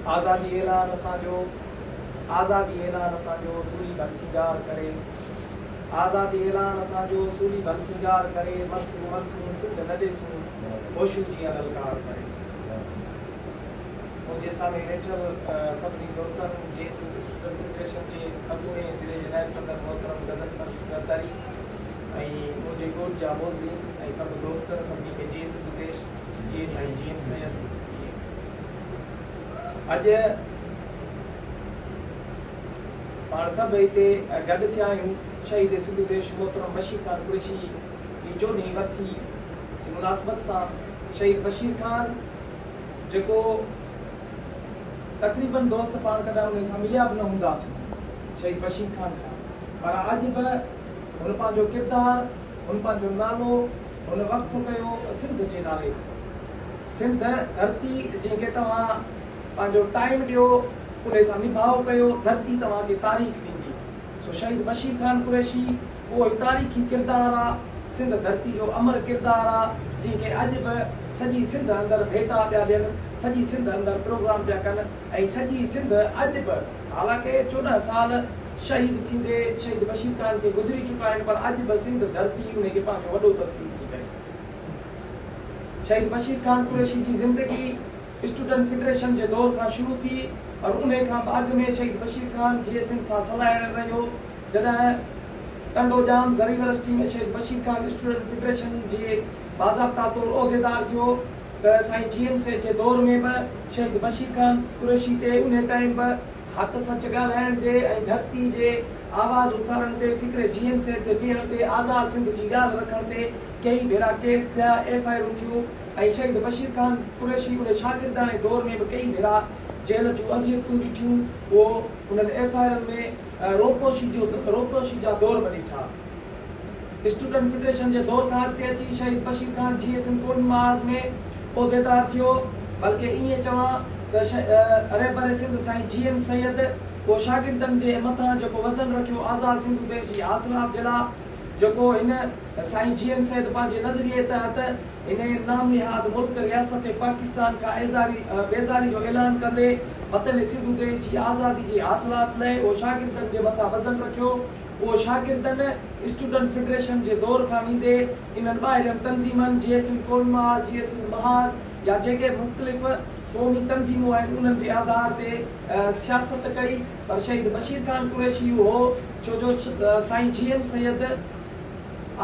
آزادي اعلان اسان جو آزادي اعلان اسان جو سوري ڀل سينگار ڪري آزادي اعلان اسان جو سوري ڀل سينگار ڪري مرسون مرسون سنڌ نه ڏيسون هوشو جيئن للڪار ڪري منهنجي سامهين ويٺل سڀني دوستن جي سنڌ اسٽوڊنٽ فيڊريشن جي اڳوڻي ضلعي جي نائب صدر محترم غزل فرش زرداري ۽ منهنجي ڳوٺ جا موذين ۽ سڀ دوست سڀني کي جي سنڌ پيش جي سائين جي ايم سيد اڄ پاڻ سڀ هتي گڏ ٿيا آهيون شهيد سنڌو ديش محترم بشير خان قريشي جي چوڏهين ورسي جي مناسبت سان شهيد بشير خان جيڪو تقريبن دوست پاڻ ڪڏهن ان سان مليا به نه هونداسين شهيد بشير خان سان پر اڄ به هن پنهنجو ڪردار هن پنهنجو نالو هن وقف ڪيو سنڌ جي نالي سنڌ ڌرتي جنهن کي توهان پنهنجو ٽائيم ڏيو انهي سان نڀاء ڪيو ڌرتي توهان کي تاريخ ڏيندي سو شهيد بشير خان قريشي اهو ئي تاريخي ڪردار آ سنڌ ڌرتي جو امر ڪردار آ جنهن کي اڄ به سڄي سنڌ اندر ڀيٽا پيا ڏين سڄي سنڌ اندر پروگرام پيا ڪن ۽ سڄي سنڌ اڄ به حالانڪه چوڏهن سال شهيد ٿيندي شهيد بشير خان کي گذري چڪا آهن پر اڄ به سنڌ ڌرتي انهي کي پنهنجو وڏو تسليم ٿي ڪري. شهيد بشير خان قريشي جي زندگي اسٽوڊنٽ فيڊريشن جي دور کان شروع ٿي پر انهي کان به اڳ ۾ شهيد بشير خان جيئي سنڌ سان سلهاڙڻ رهيو جڏهن ٽنڊو ڄام زريورسٽي ۾ شهيد بشير خان اسٽوڊنٽ فيڊريشن جي باضابطا طور عهديدار ٿيو ته سائين جي ايم سيد جي دور ۾ به شهيد بشير خان قريشي تي انهي ٽائيم به حق سچ ڳالهائڻ جي ۽ ڌرتي جي آواز اٿارڻ تي فڪري جي ايم سيد تي بيهڻ تي آزاد سنڌ جي ڳالهه رکڻ تي ڪيئي ڀيرا ڪيس ٿيا، ايف آء آرون ٿيون ۽ شهيد بشير خان قريشي ان شاگرداڻي دور ۾ به ڪيئي ڀيرا جيل جون اذيتون ڏٺيون، اهو انهن ايف آء آرن ۾ روپوشي جو روپوشي جا دور به ڏٺا. اسٽوڊنٽ فيڊريشن جي دور کان اڳتي اچي شهيد بشير خان جي ايس ايم ڪون محاذ ۾ عهديدار ٿيو، بلڪه ائين چوان ته رهبر سنڌ سائين جي ايم سيد اهو شاگردن جي مٿان جيڪو وزن رکيو آزاد سنڌ ديش جي حاصلات جي لاء، جيڪو هن سائين جي ايم سيد پنهنجي نظريي تحت انهي نام نهاد ملڪ رياست پاڪستان کان ايزاري بيزاري جو اعلان ڪندي وطن سنڌو ديش جي آزادي جي حاصلات لئه اهو شاگردن جي مٿان وزن رکيو اهو شاگردن اسٽوڊنٽ فيڊريشن جي دور کان ويندي انهن ٻاهرين تنظيمن جيئي سنڌ ڪونما جيئي سنڌ محاذ يا جيڪي به مختلف قومي تنظيمون آهن انهن جي آڌار تي سياست ڪئي. پر شهيد بشير خان قريشي هو ڇو جو سائين جي ايم سيد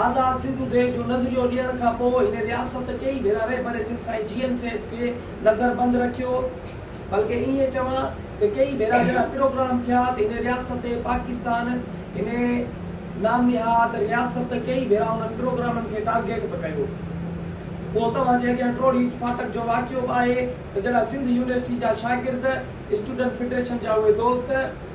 آزاد سنڌو ديش جو نظريو ڏيڻ کان پوء هن رياست ڪيئي ڀيرا رهبر سنڌ سائين جي ايم سيد کي نظر بند رکيو بلڪه ائين چوان ته ڪيئي ڀيرا جڏهن پروگرام ٿيا ته هن رياست پاڪستان هن نام نهاد رياست ڪيئي ڀيرا انهن پروگرامن کي ٽارگيٽ به ڪيو پوء توهان جي اڳيان ٽروڙي فاٽڪ جو واقعو به آهي. ته جڏهن سنڌ يونيورسٽي جا شاگرد، اسٽوڊنٽ فيڊريشن جا اهي دوست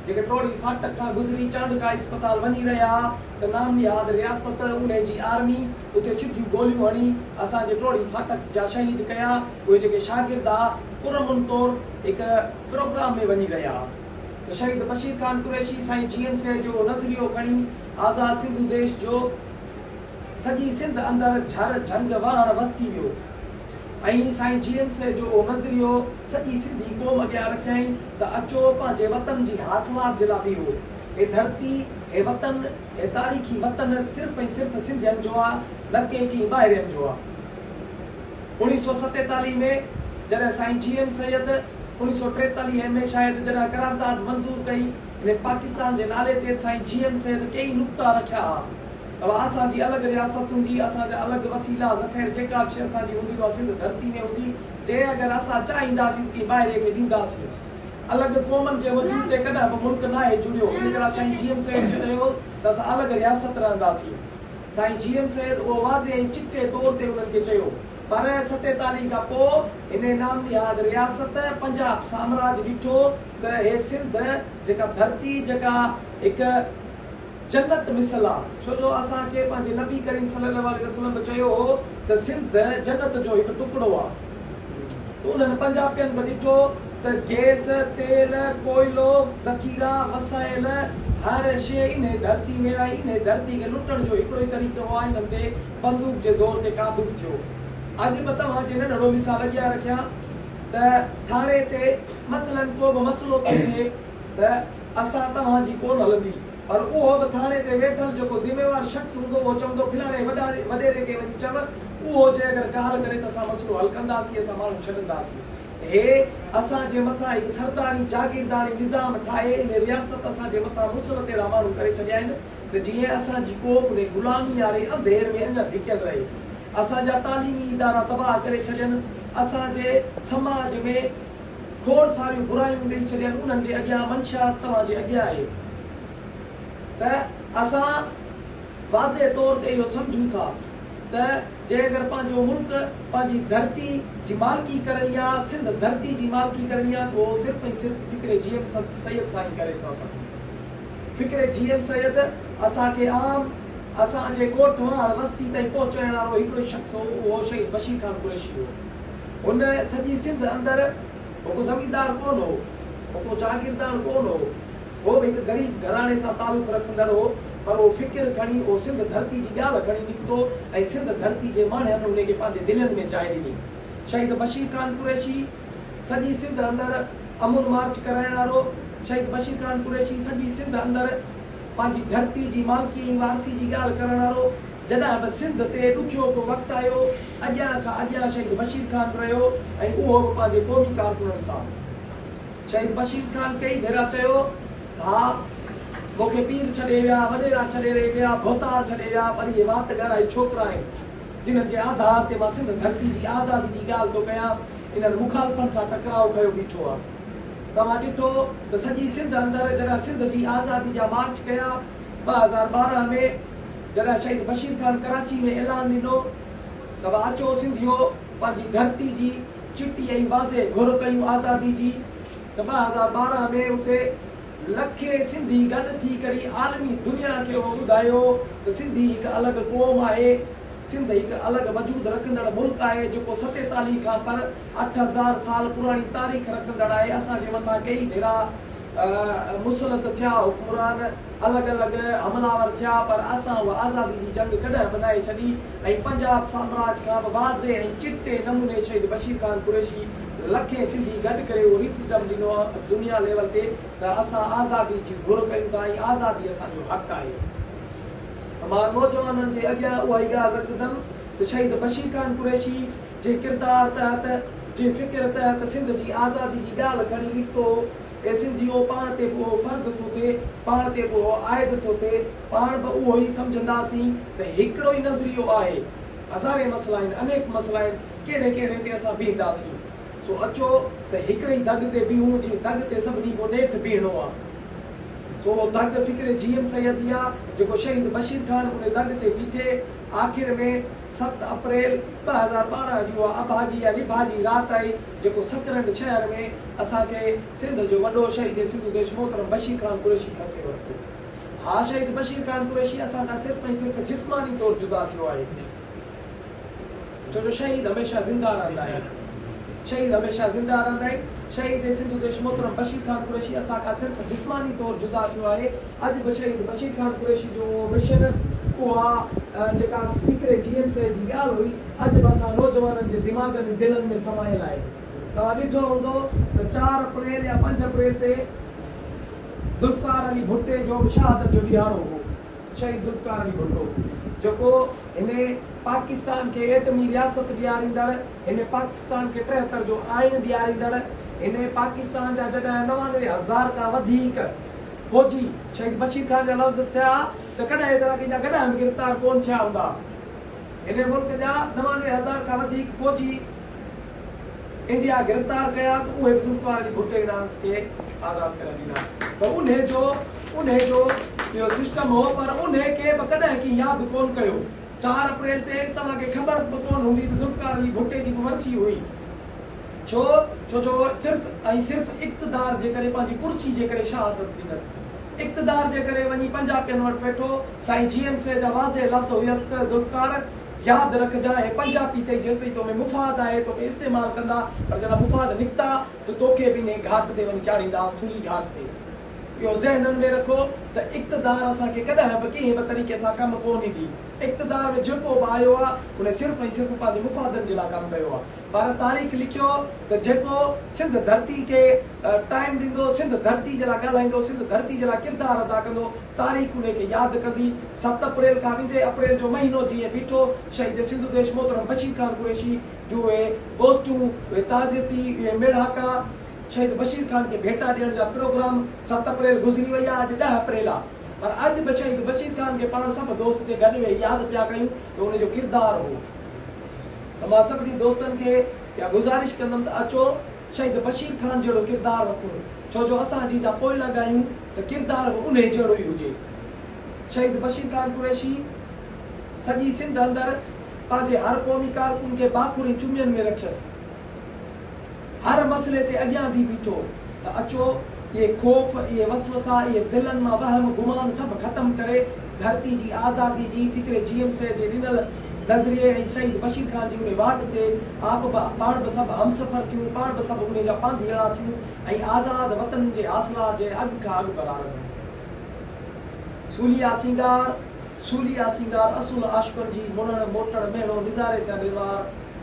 جيڪي ٽوڙي فاٽڪ کان گذري چانڊڪا اسپتال وڃي رهيا ها ته نام نهاد رياست انهي جي آرمي اتي سڌيون گوليون هڻي اسان جي ٽوڙي فاٽڪ جا شهيد ڪيا اهي جيڪي شاگرد ها پرامن طور هڪ پروگرام ۾ وڃي رهيا ها ته شهيد بشير خان قريشي سائين جي ايم سي جو نظريو کڻي آزاد سنڌو ديش جو سڄي سنڌ اندر جھر جھنگ وھڻ وستي ويو ۽ سائين جي ايم سي جو اھو نظريو سڄي سنڌي قوم اڳيان رکيائين ته اچو پنھنجي وطن جي حاصلات جي لاء بيھو ھي ڌرتي ھي وطن ھي تاريخي وطن صرف ۽ صرف سنڌين جو آ نه ڪي ڪنھن ٻاھرين جو آ اوڻيھ سؤ ستيتاليھ ۾ جڏھن سائين جي ايم سيد اوڻيھ سؤ ٽيتاليھ ۾ شايد جڏھن قرارداد منظور ڪئي انھي پاڪستان جي نالي تي سائين جي ايم سيد ڪيئي نقطا رکيا ھا. اها اسان جي الڳ رياست هوندي، اسان جا الڳ وسيلا، ذخير، جيڪا به شيء اسان جي هوندي، اها سنڌ ڌرتي ۾ هوندي، جنهن اگر اسان چاهينداسين ته ڪنهن ٻاهرئين کي ڏينداسين. الڳ قومن جي وجود تي ڪڏهن به ملڪ ناهي جڙيو، ان ڪري سائين جي ايم سيد چيو ته اسان الڳ رياست رهنداسين. سائين جي ايم سيد اهو واضح ۽ چٽي طور تي انهن کي چيو. پر ستيتاليهه کان پوء انهيء نام نهاد رياست پنجاب سامراج ڏٺو ته هي سنڌ جيڪا ڌرتي جيڪا هڪ جنت مثل آ، ڇو جو اسان کي پنهنجي نبي ڪريم صلي الله عليه وسلم به چيو هو ته سنڌ جنت جو هڪ ٽڪڙو آ ته انهن پنجاپين به ڏٺو ته گئس، تيل، ڪوئلو، ذخيرا، وسائل هر شيء انهي ڌرتي ۾ ۽ انهي ڌرتي کي لٽڻ جو هڪڙو ئي طريقو هو آء انهن تي بندوق جي زور تي قابض ٿيو اڄ به توهان جي ننڍڙو مثال اڳيان رکيان ته ٿاڻي تي مثلاً ڪو به مسئلو ٿو ٿئي ته اسان توهان جي ڪونه هلندي پر اهو به ٿاڻي تي ويٺل جيڪو ذميوار شخص هوندو اهو چوندو فلاڻي وڏيري کي وڃي چئو اهو جي اگر ڪالهه ڪري ته اسان مسئلو حل ڪنداسين اسان ماڻهو ڇڏنداسين هي اسان جي مٿان هڪ سرداري جاگيرداڻي نظام ٺاهي هن رياست اسان جي مٿان مسلط اهڙا ماڻهو ڪري ڇڏيا آهن ته جيئن اسان جي قوم ني غلامي واري انڌير ۾ اڃا ڌڪيل رهي اسان جا تعليمي ادارا تباهه ڪري ڇڏين اسان جي سماج ۾ کوڙ ساريون برايون ڏئي ڇڏين انهن جي اڳيان منشيات توهان جي اڳيان آهي ته اسان واضح طور تي اهو سمجهون ٿا ته جي اگر پنهنجو ملڪ پنهنجي ڌرتي جي مالڪي ڪرڻي آ سنڌ ڌرتي جي مالڪي ڪرڻي آ ته اهو صرف ۽ صرف فڪر جي ايم سيد سان ئي ڪري ٿا سگهون فڪر جي ايم سيد اسان کي عام اسان جي ڳوٺ واهڻ وستي تائين پهچائڻ وارو هڪڙو ئي شخص هو اهو شهيد بشير خان قريشي هو. هن سڄي سنڌ اندر هو ڪو زميندار ڪونه هو، هو ڪو جاگيرداڻ ڪونه هو، هو به هڪ غريب گهراڻي سان تعلق رکندڙ هو، پر هو فڪر کڻي، اهو سنڌ ڌرتي جي ڳالهه کڻي نڪتو ۽ سنڌ ڌرتي جي ماڻهن ان کي پنهنجي دلين ۾ جاء ڏني. شهيد بشير خان قريشي سڄي سنڌ اندر امن مارچ ڪرائڻ وارو، شهيد بشير خان قريشي سڄي سنڌ اندر پنهنجي ڌرتي جي مالڪي ۽ وارثي جي ڳالهه ڪرڻ وارو، جڏهن به سنڌ تي ڏکيو ڪو وقت آيو، اڳيان کان اڳيان شهيد بشير خان به رهيو ۽ اهو به پنهنجي قومي ڪارڪنن سان. شهيد بشير خان ڪئي ڀيرا چيو ته ها، مون کي پير ڇڏي ويا، وڏيرا ڇڏي ري ويا، ڀوتار ڇڏي ويا، پر اهي وات ڳالهائي ڇوڪرا آهن، جنهن جي آڌار تي مان سنڌ ڌرتي جي آزادي جي ڳالهه ٿو ڪيان، انهن مخالفن سان ٽڪراء کنيو بيٺو آهيان. توهان ڏٺو ته سڄي سنڌ اندر جڏهن سنڌ جي آزادي جا مارچ ڪيا ٻه هزار ٻارهن ۾، جڏهن شهيد بشير خان ڪراچي ۾ اعلان ڏنو ته وا اچو سنڌيو پنهنجي ڌرتي جي چٽي ۽ واضح گهر ڪيون آزادي جي ته ٻه هزار ٻارهن ۾ اتي لکين سنڌي گڏ ٿي ڪري عالمي دنيا کي اهو ٻڌايو ته سنڌي هڪ الڳ قوم آهي سنڌ هڪ الڳ وجود رکندڙ ملڪ آهي جيڪو ستيتاليهه کان پر اٺ هزار سال پراڻي تاريخ رکندڙ آهي اسان جي مٿان ڪيئي ڀيرا مسلط ٿيا حڪمران الڳ الڳ حملاور ٿيا پر اسان اها آزادي جي جنگ ڪڏهن به ناهي ڇڏي ۽ پنجاب سامراج کان به واضح ۽ چٽي نموني شهيد بشير خان قريشي لکين سنڌي گڏ ڪري اهو ريفرنڊم ڏنو دنيا ليول تي ته اسان آزادي جي گهر ڪيون ٿا ۽ آزادي اسان جو حق آهي ته مان نوجوانن جي اڳيان اها ئي ڳالهه رکندم ته شهيد بشير خان قريشي جي ڪردار تحت جي فڪر تحت سنڌ جي آزادي جي ڳالهه کڻي نڪتو اي سنڌيو! پاڻ تي به اهو فرض ٿو ٿئي، پاڻ تي به اهو عائد ٿو ٿئي، پاڻ به اهو ئي سمجهنداسين ته هڪڙو ئي نظريو آهي، هزارين مسئلا آهن، انيڪ مسئلا آهن، ڪهڙي ڪهڙي تي اسان بيهنداسين؟ سو اچو ته هڪڙي ئي دڳ تي بيهون، جنهن دڳ تي سڀني کان نيٺ بيهڻو آهي. سو اهو دڳ فڪر جي ايم سيد ئي آهي، جيڪو شهيد بشير خان ان دڳ تي بيٺي آخر ۾ ست اپريل ٻه هزار ٻارهن جي اها اڀاڳي يا نڀاڳي رات آئي، جيڪو سترهن ڇهن ۾ اسان کي سنڌ جو وڏو شهيد سنڌو ديش محترم بشير خان قريشي کسي ورتو. ها شهيد بشير خان قريشي اسان کان صرف ۽ صرف جسماني طور جدا ٿيو آهي. ڇو جو شهيد هميشه زنده رهندا آهن. شهيد هميشه زنده رهندا آهن. شهيد سنڌو ديش محترم بشير خان قريشي اسان کان صرف جسماني طور جدا ٿيو آهي. اڄ به شهيد بشير خان قريشي جو اهو مشن، اها جيڪا اسپيڪر جي ايم سي جي ڳالهه هئي، اڄ به اسان نوجوانن جي دماغن ۽ دلن ۾ سمايل آهي. توهان ڏٺو هوندو ته چار اپريل يا پنج اپريل تي ذوالفقار علي ڀٽي جو به شهادت جو ڏهاڙو هو. شهيد ذوالفقار علي ڀٽو جيڪو هن پاڪستان کي ايٽمي رياست ڏياريندڙ، هن پاڪستان کي ٽيهتر جو آئين ڏياريندڙ هن پاڪستان جا جڏهن نوانوي هزار کان وڌيڪ فوجي شهيد بشير خان جا لفظ ٿيا ته ڪڏهن ايترا ڪنهن جا گڏها به گرفتار ڪون ٿيا هوندا هن ملڪ جا نوانوي هزار کان وڌيڪ فوجي انڊيا گرفتار ڪيا ته اهي به ذوالفقار علي ڀٽو هن کي آزاد ڪري ڏنا ته انهي جو انهي جو اهو سسٽم هو پر انهي کي به ڪڏهن ڪنهن ياد ڪون ڪيو. چار اپريل تي توهان کي خبر به ڪونه هوندي ته ذوالفقار علي ڀٽي جي به ورسي هئي. ڇو؟ ڇو جو هو صرف ۽ صرف اقتدار جي ڪري پنهنجي ڪرسي جي ڪري شهادت ڏنس. اقتدار جي ڪري وڃي پنجاپين وٽ ويٺو. سائين جي ايم سي جا واضح لفظ هيس ته ذوالفقار! ياد رکجان هي پنجاپي اٿئي جيستائين تو ۾ مفاد آهي توکي استعمال ڪندا پر جڏهن مفاد نڪتا ته توکي به انهي گهاٽ تي وڃي چاڙهيندا، اصولي گهاٽ تي. اهو ذهنن ۾ رکو ته اقتدار اسان کي ڪڏهن به ڪنهن به طريقي سان ڪم ڪو نه ڏي. اقتدار ۾ جيڪو به آيو آهي ان صرف ۽ صرف پنهنجي مفادن جي لاء ڪم ڪيو آهي پر تاريخ لکيو ته جيڪو سنڌ ڌرتي کي ٽائيم ڏيندو، سنڌ ڌرتي جي لاء ڳالهائيندو، سنڌ ڌرتي جي لاء ڪردار ادا ڪندو تاريخ انهي کي ياد ڪندي. ست اپريل کان ويندي اپريل جو مهينو جيئن بيٺو شهيد سنڌو ديش محترم بشير خان قريشي جون اهي گوسٽون، اهي تعزيتي، اهي ميڙاڪا، شهيد بشير خان کي ڀيٽا ڏيڻ جا پروگرام ست اپريل گذري وئي آ اڄ ڏهه اپريل آ پر اڄ به شهيد بشير خان کي پاڻ سڀ دوست ٿي گڏ ويهي ياد پيا ڪيون ته ان جو ڪردار هو ته مان سڀني دوستن کي اها گذارش ڪندم ته اچو شهيد بشير خان جهڙو ڪردار رکون ڇو جو اسان جيجا پوئلڳ آهيون ته ڪردار به انهي جهڙو ئي هجي شهيد بشير خان قريشي سڄي سنڌ اندر پنهنجي هر قومي ڪارڪن کي باکورين چمين ۾ رکيس. هر مسئلي تي اڳيان ٿي بيٺو ته اچو اهي خوف، اهي وسوسا، اهي دلن مان وهم گمان سڀ ختم ڪري ڌرتي جي آزادي جي فڪر جي ايم سي جي ڏنل نظريي ۽ شهيد بشير خان جي انهي واٽ تي آپ به پاڻ به سڀ همسفر ٿيون، پاڻ به سڀ انهي جا پانڌيئڙا ٿيون ۽ آزاد وطن جي حاصلات جي اڳ کان اڳڀرار ٿيون. سوليا سينگار، سوليا سينگار اصل عاشقن جي مڙڻ، موٽڻ، مهڻو، نظاري ٿيا نروار.